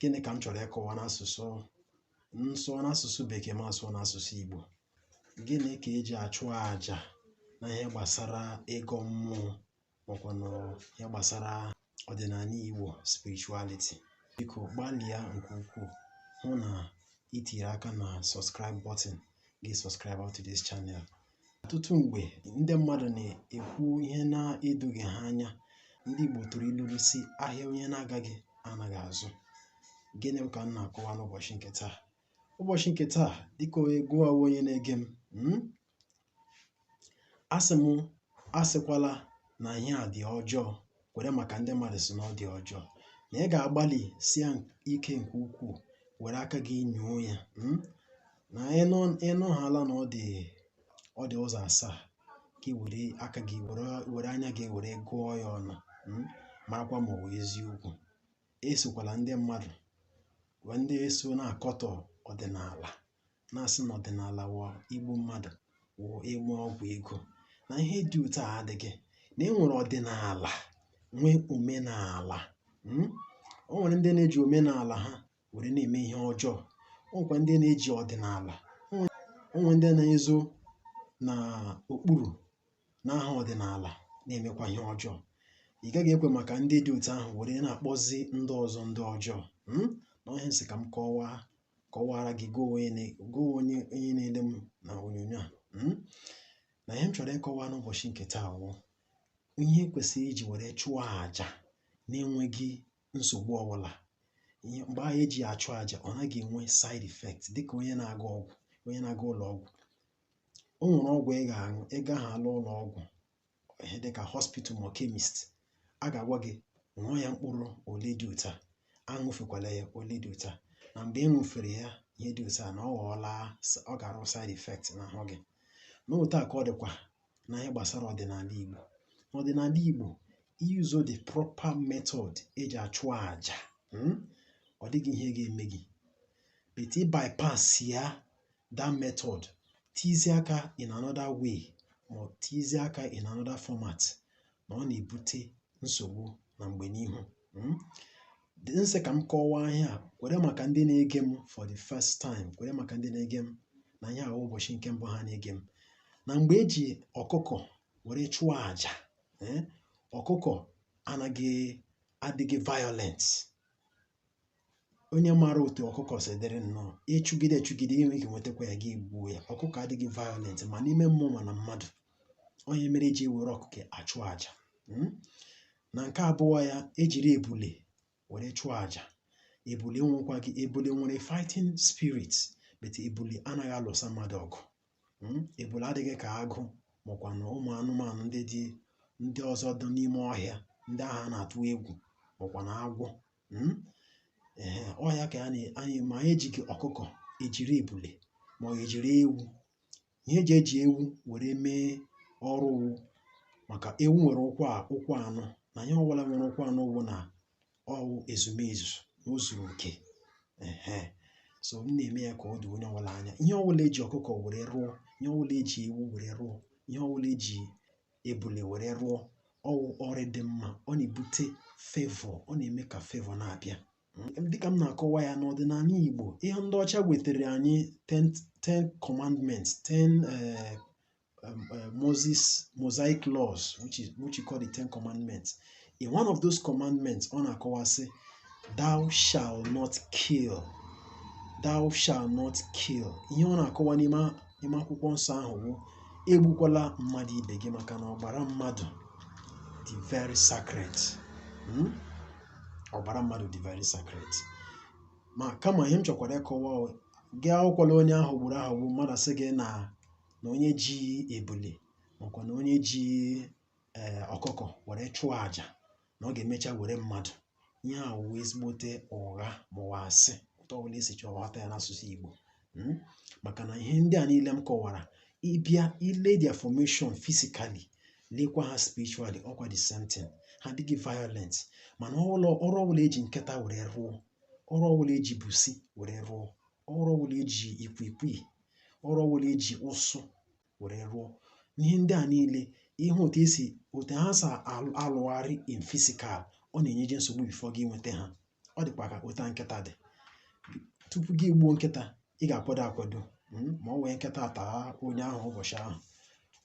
gịnị ka m chọrọ ịkọwa n'asụsụ m sụọ n'asụsụ bekee ma asụọ n'asụsụ igbo gịnị ka eji achụ aja na ihe gbasara ịgọ mmụọ makwa na ihe gbasara ọdịnala igbo spirituality biko gbalịa nke ukwuu hụ na itiri aka na subscribe button gị subscribe to this channel Ọtụtụ mgbe, ndị mmadụ na-ekwu ihe na-edoghị ha anya. Ndị Igbo tụrụ ilu si ahịa onye na-agaghị anaghị azụ. Gịnị ka m na-akọwa n'ụbọchị nke taa? Ụbọchị nke taa, dịka gịwa wụ onye na-ege m, hmm? asị m asịkwala na ihe a dị ọjọọ kwere maka ndị mmadụ si na ọ dị ọjọọ na ị ga-agbalịsie ike nke ukwuu were aka gị nyoo ya mm? na ịnụ ịnụhaala na ọ dị ọ dị ụzọ asaa gị were aka gị were were anya gị were gụọ ya ọnụ mm? marakwa ma ọ wụ eziokwu esokwala ndị mmadụ ndị so na-akọtọ ọdịnala na-asị na ọdịnala wụ igbu mmadụ wụ ime ọgwụ ego na ihe dị otu a adịghị na e nwere ọdịnala nwee omenala hmm? o nwere ndị na-eji omenala ha were na-eme ihe ọjọọ o nwekwa ndị na-eji ọdịnala o nwere ndị na-ezo na okpuru na aha ọdịnala na-emekwa ihe ọjọọ ị gaghị ekwe maka ndị dị otu ahụ were na-akpọzi ndị ọzọ ndị ọjọọ hmm? na ọ ihe m sị ka m kọwaa kọwara gị gị wụ onye na-ele m na onyonyo a hmm? na ihe m chọrọ ịkọwa n'ụbọchị nke taa wụ ihe kwesịrị iji were chụọ àjà na-enweghị nsogbu ọbụla mgbe ahụ eji ya achụ àjà ọ naghị enwe side effect dịka onye na-aga ọgwụ onye na-aga ụlọ ọgwụ o nwere ọgwụ ị ga-aṅụ ị gahaala ụlọ ọgwụ ihe dịka hospital ma chemist a ga-agwa gị ṅụọ ya mkpụrụ ole dị otu a aṅụfekwala ya ole dị otu a na mgbe ị ṅụfere ya ihe dị otu a na ọ ga-arụ side effect n'ahụ gị na otu a ka ọ dịkwa na ihe gbasara ọdịnala Igbo n'ọdịnala Igbo ị use the proper method eji achụ aja hmm? ọ dịghị ihe ga-eme gị but ị bypass ya that method tizie aka in another way ma ọ tizie aka in another format na ọ na-ebute nsogbu na mgbe n'ihu hmm? m sị ka m kọwaa ihe a kwere maka ndị na-ege m for the first time kwere maka ndị na-ege m na ihe a wụ ụbọchị nke mbụ ha na-ege m na mgbe eji ọkụkọ were chụọ àjà eh, ọkụkọ adịghị violent onye maara otu ọkụkọ si dịrị nnọọ ịchụgide chụgide i nwee ike nwetakwa ya gị gbuo ya ọkụkọ adịghị violent ma n'ime mmụọ ma na mmadụ ọ ihe mere eji ewere ọkụkọ achụ aja hmm? na nke abụọ ya ejiri ebule were chụọ aja ebule nwekwaghị ebule nwere fighting spirit but ebule anaghị alụsa mmadụ ọgụ Hmm? ebule adịghị ka agụ makwa na ụmụ anụmanụ ndị dị ndị ọzọ dị n'ime ọhịa ndị ahụ a na-atụ egwu makwa na agwọ hmm? ee ọ ihe a ka anyị ma anyị ejighị ọkụkọ ejiri ebule ma ọ ejiri ewu ihe eji eji ewu were mee ọrụ wụ maka ewu nwere ụkwụ ụkwụ anọ na ihe ọbụla nwere ụkwụ anọ wụ na ọwụ ezumezu na o zuru oke ehe so m na-eme ya ka ọ dị onye ọbụla anya ihe ọbụla eji ọkụkọ were rụọ ihe ọbụla eji ewu were rụọ ihe ọbụla eji ebule were rụọ ọwụ ọrụ dị mma ọ na-ebute favor ọ na-eme ka favor na-abịa Mm, dịka m na-akọwa ya n'ọdịnala Igbo ihe ndị ọcha wetara anyị 10 10 commandments 10 eh, um, uh, Moses mosaic laws which is which you call the Ten Commandments. In one of those commandments, ọ na-akọwa sị, "Thou shall not kill." Thou shall not kill. Ihe ọ na-akọwa n'ime n'ime akwụkwọ nsọ ahụ bụ egbukwala mmadụ ibe gị maka na ọbara mmadụ dị very sacred. Hmm? Ọbara mmadụ dị very sacred. Ma kama ihe m chọkwara ịkọwa gị awụkwala onye a ghọgburu aghọgbu mmadụ asị gị na na onye ji ebule makwa na onye ji ee eh, ọkụkọ were chụọ aja na ọ ga-emecha were mmadụ ihe a wụ ezigbote ụgha maọwụ asị otu ọbụla esi chọọ ghọta ya n'asụsụ Igbo hmm? maka na ihe ndị a niile m kọwara ị bịa ile their formation physically lekwa ha spiritually ọkwa the same thing ha adịghị violent mana ọrụ ọbụla eji nkịta were rụọ ọrụ ọbụla eji busi were rụọ ọrụ ọbụla eji ikwikwii ọrụ ọbụla eji ụsụ were rụọ ihe ndị a niile ị hụ otu esi otu ha si alụgharị in physical ọ na-enyeje nsogbu before gị nweta ha ọ dịkwa ka otu nkịta dị tupu gị gbuo nkịta ị ga-akwado akwado hmm, maọwụ nkịta taa onye ahụ ụbọchị ahụ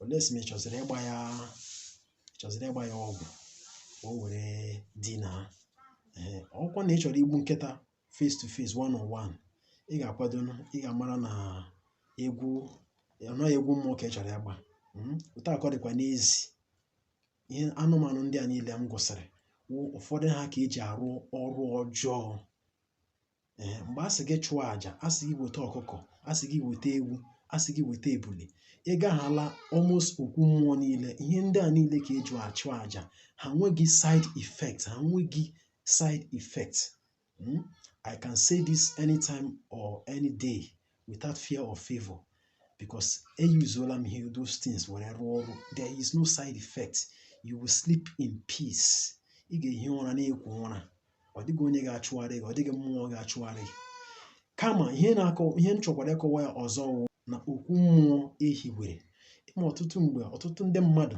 unless ma ị chọziri ịgba ya chọziri ịgba ya ọgwụ ka o were dinaa ọkwa na ị chọrọ igbu nkịta face to face one on one ị ga-akwado ị ga-amara na egwu anaghị egwu mmụọ ka ị chọrọ ịgba hmm? otu a ka ọ dịkwa n'ezie anụmanụ ndị a niile m gụsịrị ụfọdụ ha ka eji arụ ọrụ ọjọọ ee eh, mgbe a sị gị chụọ àjà a sị gị weta ọkụkọ a sị gị weta ewu a sị gị weta ebule ị gaghala almost okwu mmụọ niile ihe ndị a niile ka eji achụ àjà ha nweghị side effect ha nweghị side effect Hmm? I can say this anytime or any day without fear or favor because eyuzuola m ihe those things were rụọ ọrụ there is no side effect you will sleep in peace ị ga-ehi ụra na-ekwo ụra ọ dịghị onye ga-achụgharị gị ọ dịghị mmụọ ga-achụgharị gị kama ihe na-akọ ihe m chọkwara ịkọwa ya ọzọ wụ na okwu mmụọ e hiwere ị ma ọtụtụ mgbe ọtụtụ ndị mmadụ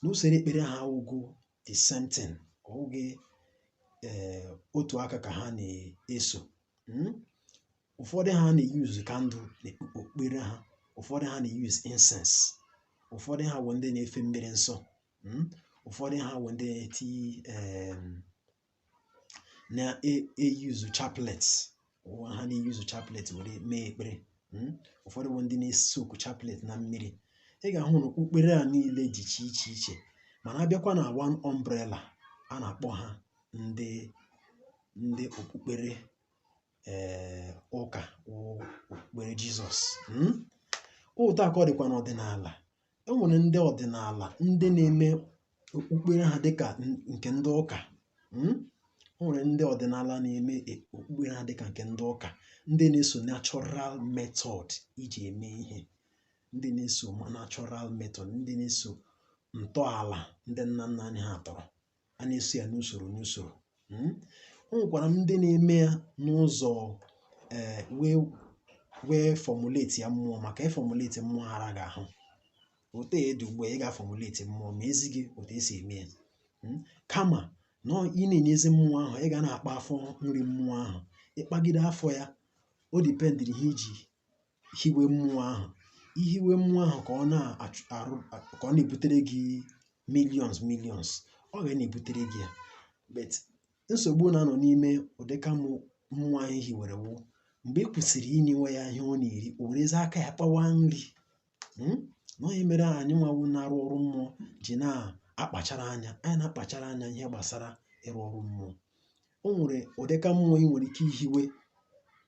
n'usoro ekpere ha awụghị the same thing ọ wụghị ee otu aka ka ha na-eso hmm? ụfọdụ ha na-eyuzu candle n'okpukpere ha ụfọdụ ha na-eyuzu incense ụfọdụ ha bụ ndị na-efe mmiri nsọ hmm? ụfọdụ ha bụ ndị na-eti na-eyuzu chaplet ụwa ha na-eyuzu chaplet were mee ekpere hmm? ụfọdụ bụ ndị na-esoku chaplet na mmiri ị ga-ahụ na okpukpere a niile dị iche iche iche mana a bịakwa na one umbrella a na-akpọ ha ndị ndị okpukpere ee eh, ụka okpukpere jizọs hmm? otu a ka ọ dịkwa n'ọdịnala e nwere ndị ọdịnala ndị na-eme okpukpere ha dịka nke ndị ụka hmm? o nwere ndị ọdịnala na-eme e, okpukpere ha dịka nke ndị ụka ndị na-eso natural method e ji eme ihe ndị na-eso natural method ndị na-eso ntọala ndị nna nna anyị ha tọrọ a na-eso ya n'usoro n'usoro hmm? o nwekwara ndị na-eme ya n'ụzọ eh, wee wee fọmuleti ya mmụọ maka ịfọmuleti mmụọ araghị ahụ otu ọ dị ugbu a ị ga-afọmuleti mmụọ ma e zi gị otu e si eme ya hmm? kama na ị na-enyezi mmụọ ahụ ị ga na-akpa afọ nri mmụọ ahụ ị kpagide afọ ya o dipendịrị ihe i ji hiwe mmụọ ahụ i hiwe mmụọ ahụ ka ọ na-arụ ka ọ na-ebutere gị millions millions ọ ga na-ebutere gị ya but nsogbu na-anọ n'ime ụdịka mmụọ ahụ e hiwere wụ mgbe ị kwụsịrị inyewe ya ihe ọ na-eri o werezi aka ya kpawa nri hmm? na ọ ihe mere anyị nwa wụ na-arụ ọrụ mmụọ ji na-akpachara anya anyị na-akpachara anya ihe gbasara ịrụ ọrụ mmụọ o nwere ụdịka mmụọ ị nwere ike ihiwe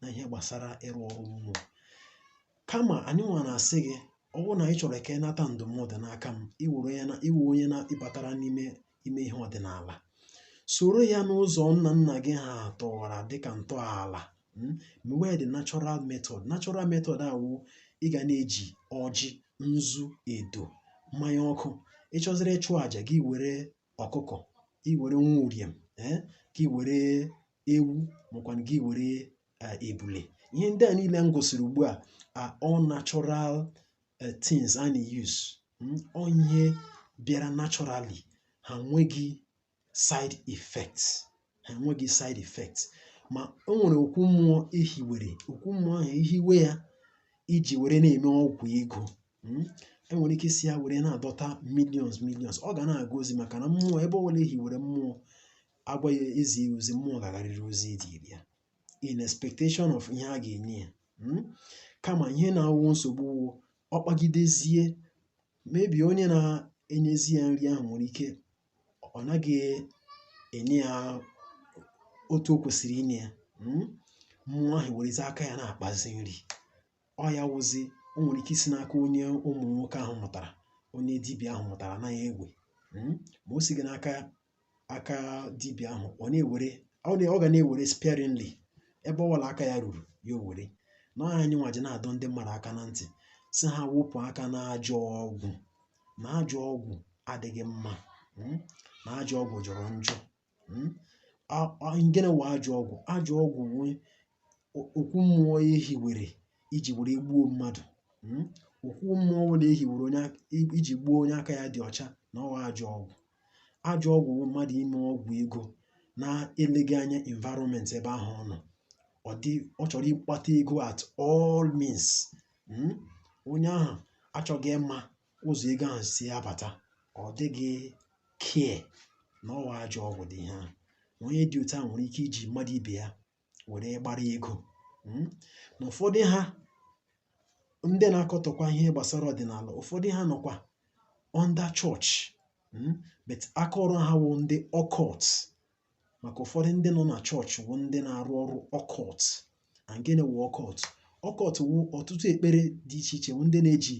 na ihe gbasara ịrụ ọrụ mmụọ kama anyị nwa na-asị gị ọ bụrụ na ị chọrọ ka ị nata ndụmọdụ n'aka m i were ya na ị wụ onye na ị batara n'ime ihe ọdịnala soro ya n'ụzọ nna nna gị ha tọwara dịka ntọala hmm? mewe the natural method natural method a wụ ị ga na-eji ọjị nzu edo mmanya ọkụ ị chọziri ịchụ àjà gị were ọkụkọ i were nwa uriem eh? gị were ewu makwanụ gị were ebule ihe ndị a niile m gosiri ugbu a are all natural uh, things a na-use hmm? ọ ihe bịara naturally ha nweghị side effects ha nweghị side effects ma o nwere okwu mmụọ e hiwere okwu mmụọ ahụ e hiwe ya e ji were na-eme ọgwụ ego hmm? e nwere ike isi ya were na-adọta millions millions ọ ga na-aga ozi maka na mmụọ ebe ọbụla e hiwere mmụọ a gwa ya e zi ya ozi mmụọ ga-agarịrị ozi e ziri ya in expectation of ihe a ga-enye ya hmm? kama ihe na-awụ nsogbu wụ ọ kpagidezie maybe onye na-enyezi ya nri ahụ nwere ike ọ naghị enye ya otu o kwesịrị inye ya hmm? mmụọ ahụ werezi aka ya na-akpazi nri ọ ya wụzi o nwere ike isi n'aka onye ụmụ nwoke ahụ mụtara onye dibịa ahụ mụtara na-ewe hmm? ma o sighị n'aka aka dibịa ahụ ọ na-ewere ọ ga na-ewere sparingly ebe ọbụla aka ya ruru ya o were na ọ ya anyị nwa ji na-adọ ndị mmadụ aka na ntị sị ha wepụ aka na ajọ ọgwụ na ajọ ọgwụ adịghị mma hmm? na ajọ ọgwụ jọrọ njọ hmm? and gịnị wụ ajọ ọgwụ ajọ ọgwụ wụ okwu mmụọ e hiwere iji were gbuo mmadụ hmm? okwu mmụọ ọbụla e hiwere iji gbuo onye aka ya dị ọcha na ọ wụ ajọ ọgwụ Ajọ ọgwụ bụ mmadụ ime ọgwụ ego na-eleghị anya environment ebe ahụ ọ nọ. Ọ dị ọ chọrọ ịkpata ego at all means. Mm? Onye ahụ achọghị ịma ụzọ ego ahụ si abata. Ọ dịghị care na ọ wụ ajọ ọgwụ dị ihe ahụ. Onye dị otu a nwere ike iji mmadụ ibe ya were gbara ego hmm? na ụfọdụ ha ndị na-akọtọkwa ihe gbasara ọdịnala ụfọdụ ha nọkwa under chọọchị hmm? but aka ọrụ ha wụ ndị occult maka ụfọdụ ndị nọ na chọọchị wụ ndị na-arụ ọrụ occult and gịnị wụ occult occult wụ ọtụtụ ekpere dị iche iche wụ ndị na-eji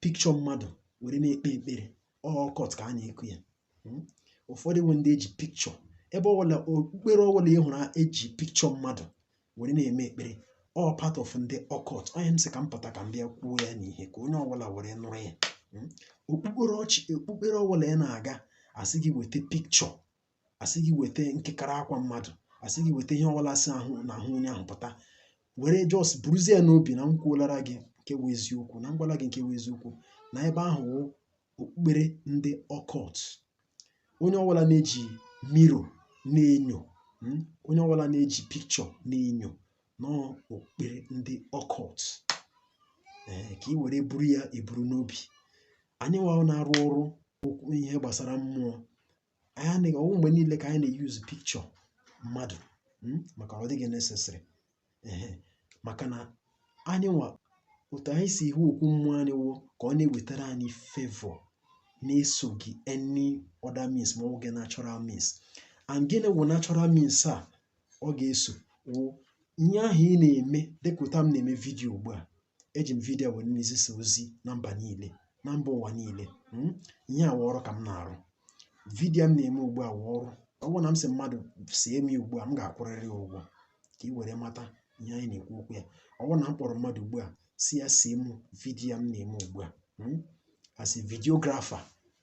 picture mmadụ were na-ekpe ekpere occult ka a na-ekwu ya hmm? ụfọdụ wụ ndị e ji picture ebe ọbụla okpukpere ọbụla ị hụrụ e ji picture mmadụ were na-eme ekpere ọ part of ndị occult ọ ihe m sị ka m pụta ka m bịa kwuo ya n'ihe ka onye ọbụla were nụrụ ya hmm? okpukperechi okpukpere ọbụla ị na-aga a sị gị weta picture a sị gị weta nkekara akwa mmadụ a sị gị weta ihe ọbụla si n'ahụ onye ahụ pụta were just buruzie ya n'obi na m kwuolara gị nke bụ eziokwu na m gwala gị nke bụ eziokwu na ebe ahụ wụ okpukpere ndị occult onye ọbụla na-eji mirror na-enyo mm, onye ọbụla na-eji picture na-enyo na ọ okpukpere ndị occult ee ka ị were buru ya eburu n'obi anyị nwa na-arụ ọrụ okwu ihe gbasara mmụọ anyị anaghị ọ wụ mgbe niile ka anyị na-use picture mmadụ hmm, maka ọ dịghị necessary maka na anyị nwa otu anyị si ihu okwu mmụọ anyị wụ ka ọ na-ewetara anyị favour na-esoghị any other means ma ọ bụghị natural means and gịnị wụ natural means a ọ ga-eso wụ ihe ahụ ị na-eme dịka otu a m na-eme vidiyo ugbu a eji m vidiyo were na-ezisa ozi na mba niile na mba ụwa niile hmm? ihe a wụ ọrụ ka m na-arụ vidiyo m na-eme ugbu a wụ ọrụ ọ bụrụ na m sị mmadụ see m ugbu a m ga-akwụrịrị ya ụgwọ ka ị were mata ihe anyị na-ekwu okwu ya ọ bụrụ na m kpọrọ mmadụ ugbu a sị ya see m vidiyo m na-eme ugbu a hmm? as a videographer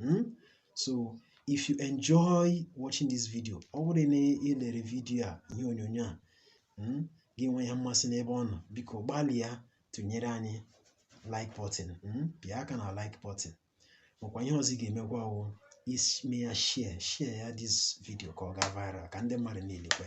Hmm? So if you enjoy watching this video, ọ bụrụ na ị lere vidiyo a ihe onyonyo a hmm, gị nwee ya mmasị n'ebe ọ nọ biko gbalịa tụnyere anyị like button hmm, pịa aka na like button makwa ihe ọzọ ị ga-emekwa wụ ime ya share share ya this video ka ọ gaa viral ka ndị mmadụ niile kwe